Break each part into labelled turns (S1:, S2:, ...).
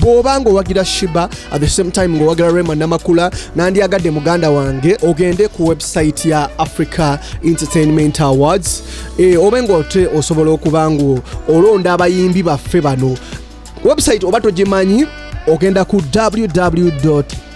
S1: bwoba nga owagira shiba at the same time nga owagira rema namakula nandyagadde muganda wange ogende ku website ya africa entertainment awards e, obe nga ote osobola okuba nga olonda abayimbi baffe bano website oba togimanyi ogenda ku www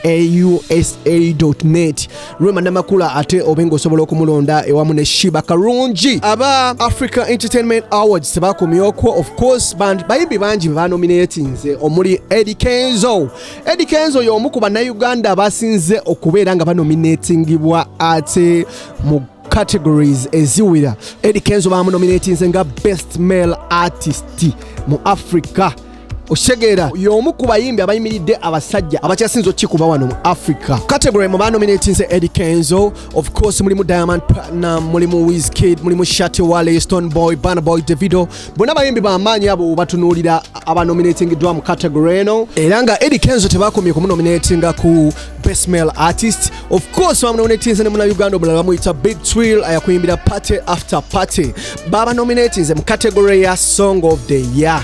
S1: aeausa.net rema namakula ate obe ng'osobola okumulonda ewamu ne shiba karungi aba africa entertainment awards tebakomyokwo of course band bayimbi bangi bebanominatinze omuli edi kenzo edi kenzo y'omu ku bannayuganda abasinze okubeera nga banominatingibwa ate mu categories eziwira edi kenzo bamunominatinze nga best male artist mu africa okitegeera y'omu ku bayimbi abayimiridde abasajja abakyasinza okukikuba wano mu africa category mu banominatinze edi kenzo of course mulimu diamond platinum mulimu wiskid mulimu shati wale stone boy bana boy davido bonna bayimbi bamaanyi abo batunuulira abanominatingiddwa mu category eno era nga edi kenzo tebakomye kumunominatinga ku best male artist of course bamunominatinze ne muna uganda omulala bamuyita big twill ayakuyimbira party after party babanominatinze mu category ya song of the year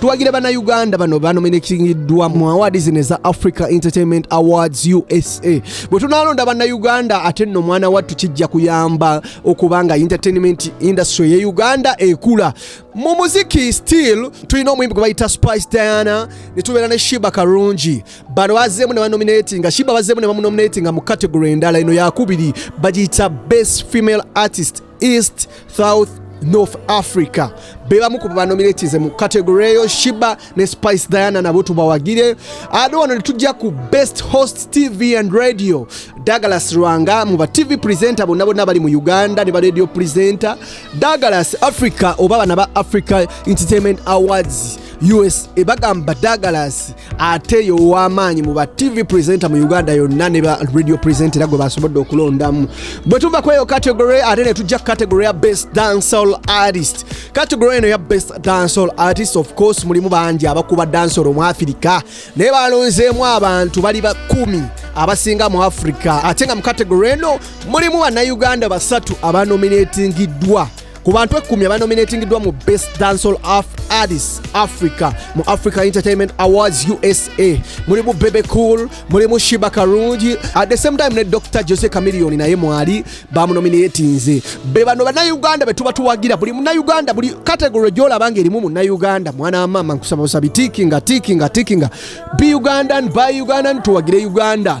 S1: tuwagira bannayuganda bano banominatingiddwa mu awaadi zino eza africa entertainment awards usa bwe tunalonda bannayuganda ate nno omwana wattu kijja kuyamba okuba nga entertainment industry ye uganda ekula mu muziki still tulina omuyimbi gwe bayita spice diana ne tubeera ne shiba karungi bano bazeemu ne banominatinga shiba bazeemu ne bamunominatinga mu category endala eno yakubiri bagiyita best female artist east south north africa bebamu ku banominatize mu kategory eyo shiba ne spice diana nabo tubawagire ate wano netujja ku best host tv and radio douglas rwanga mu ba tv presenter bonna bonna bali mu uganda ne ba radio presenter douglas africa oba bana ba africa entertainment awards us ebagamba douglas ate yo ow'amaanyi mu ba tv presenter mu uganda yonna ne ba radio presenter era gwe basobodde okulondamu bwe tuva kweyo category ate ne tujja category ya best dancehall artist category eno ya best dancehall artist of course mulimu bangi abakuba dancehall omu afirika naye balonzeemu abantu bali bakumi abasinga mu afirika ate nga mu category eno mulimu bannayuganda basatu abanominatingiddwa ku bantu ekkumi abanominatingiddwa mu best dancehall af artist africa mu africa entertainment awards usa mulimu bebe cool mulimu shiba karungi at the same time ne dr jose camilion naye mwali bamunominatinze be bano bannayuganda be tuba tuwagira buli munayuganda buli category gyolaba nga erimu munayuganda mwana wa maama nkusaba busabi tikinga tikinga tikinga be ugandan by ugandan tuwagire uganda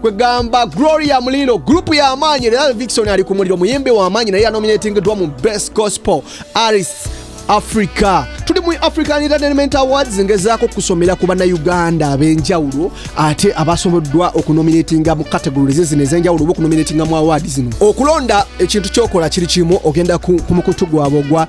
S1: kwegamba gloria muliro gurupu y'amaanyi era vixon ali ku muliro muyimbi w'amaanyi naye yanominatingiddwa mu best gospel artist africa tuli mu african entertainment awards ngezaako okusomera ku bannayuganda ab'enjawulo ate abasoboddwa okunominatinga mu categories zino ez'enjawulo oba okunominatinga mu awardi zino okulonda ekintu kyokola kiri kimu ogenda ku mukutu gwabwe ogwa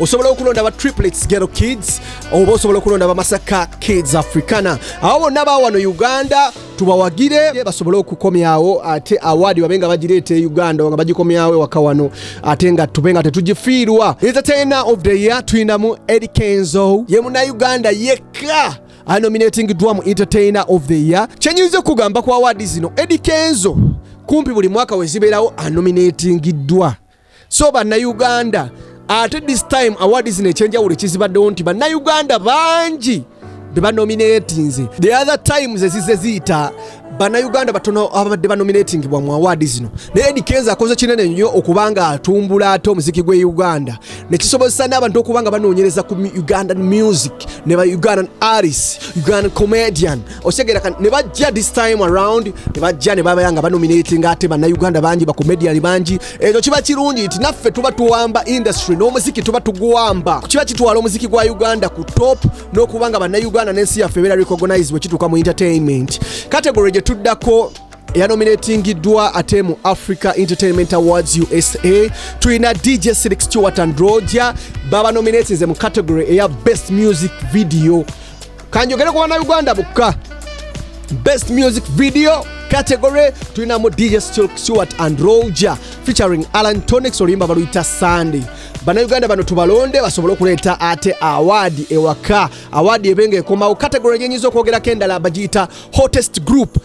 S1: osobola okulonda ba triplets gero kids oba osobola okulonda bamasaka kids africana awo bonna bawano uganda tubawagire basobole okukomyawo ate awaadi babe nga bagireeta e uganda nga bagikomyawo ewaka wano ate nga tube nga tetugifiirwa entertainer of the year tulinamu eri kenzo ye munauganda yekka anominating dwamu entertainer of the year kyenyinza okugamba ku awaadi zino edi kenzo kumpi buli mwaka wezibeerawo anominatingiddwa so bannayuganda ate this time award zino ekyenjawulo ekizibaddewo nti bannayuganda bangi bebanominatinze the other times ezize ziyita bannayuganda batono ababadde banominatingibwa mu awaadi zino naye edi kenza akoze kinene nnyo okuba nga atumbula ate omuziki gw'e uganda nekisobozesa n'abantu okuba nga banoonyereza ku ugandan music ne ba ugandan aris ugandan comedian okitegera kati ne bajja this time around ne bajja ne babeera nga banominatinga ate bannayuganda bangi bakomediyani bangi ekyo kiba kirungi nti naffe tuba tuwamba industry n'omuziki tuba tuguwamba kiba kitwala omuziki gwa uganda ku top n'okuba nga bannayuganda n'ensi yaffe ebeera recognize bwe kituuka mu entertainment category gye tuddako yanominatingiddwa ate mu africa entertainment awards usa tulina dj silix stewart and roger babanominatinze mu category eya best music video kanjogere ku bana uganda bukka best music video category tulinamu dj stewart and roger featuring alan tonics oluyimba baluyita sunday bannayuganda bano tubalonde basobole okuleeta ate awaadi ewaka awaadi ebenga ekomawo category gyenyinza okwogerako endala bagiyita hottest group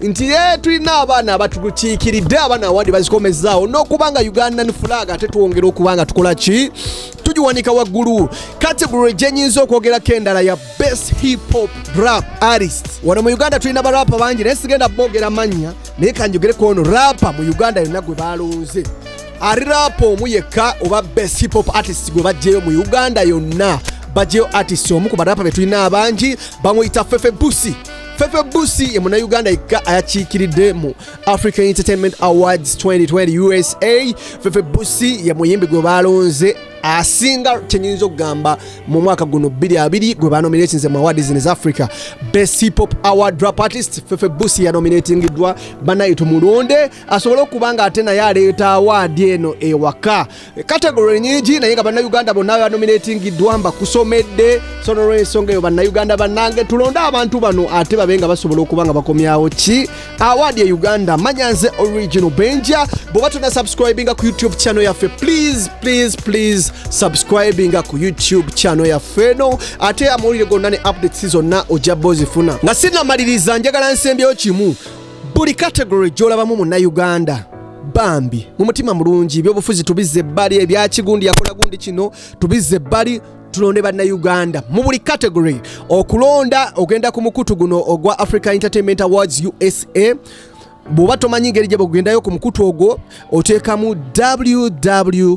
S1: nti ye tulina abaana abatukiikiridde abaana awadi bazikomezaawo n'okuba nga ugandan flag ate twongera okuba nga tukola ki tugiwanika waggulu category gyenyinza okwogerako endala ya best hip hop rap artist wano mu uganda tulina barapa bangi naye sigenda boogera mannya naye kanjogereko ono rapa mu uganda yonna gwe balonze ari rapa omu yekka oba best hip hop artist gwe bajjeyo mu uganda yonna bajjeyo artist omu ku barapa betulina abangi bamuyita fefe busi Fefe Busi ye munnayuganda yekka ayakiikiridde mu African Entertainment Awards 2020 USA. Fefe Busi ye muyimbi gwe baalonze asinga kyenyinza okugamba mu mwaka guno 22 gwe banominatinze mu awards in africa best pop award rap artist fefe busi yanominatingiddwa banaye tumulonde asobole okuba nga ate naye aleeta awaadi eno ewaka kategori nyingi naye nga bannayuganda bonna banominatingiddwa mbakusomedde so nolwensonga eyo bannayuganda bannange tulonde abantu bano ate babe nga basobola okuba nga bakomyawo ki awaadi e uganda manya nze original benja bwoba tona subscribinga ku youtube channel yaffe please please please subscribinga ku youtube channel yaffe eno ate amawulire gonna ne updates zonna ojja bozifuna nga sinamaliriza njagala nsembyeyo kimu buli kategory gyolabamu munnayuganda bambi mu mutima mulungi ebyobufuzi tubizze ebbali ebyakigundi yakola gundi kino tubizze ebbali tulonde bannayuganda mu buli category okulonda ogenda ku mukutu guno ogwa africa entertainment awards usa bw'oba tomanyi ngeri gye bakugendayo ku mukutu ogwo oteekamu www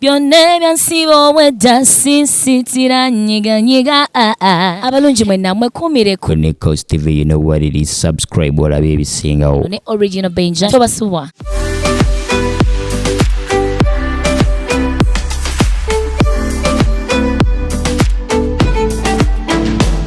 S2: byonna ebyansiba obwedda sisitira nyiganyiga ah, ah. abalungi mwe namwe kumireko ne cost tv you know
S3: what it is subscribe olabe ebisingawo ne original benja
S2: tobasubwa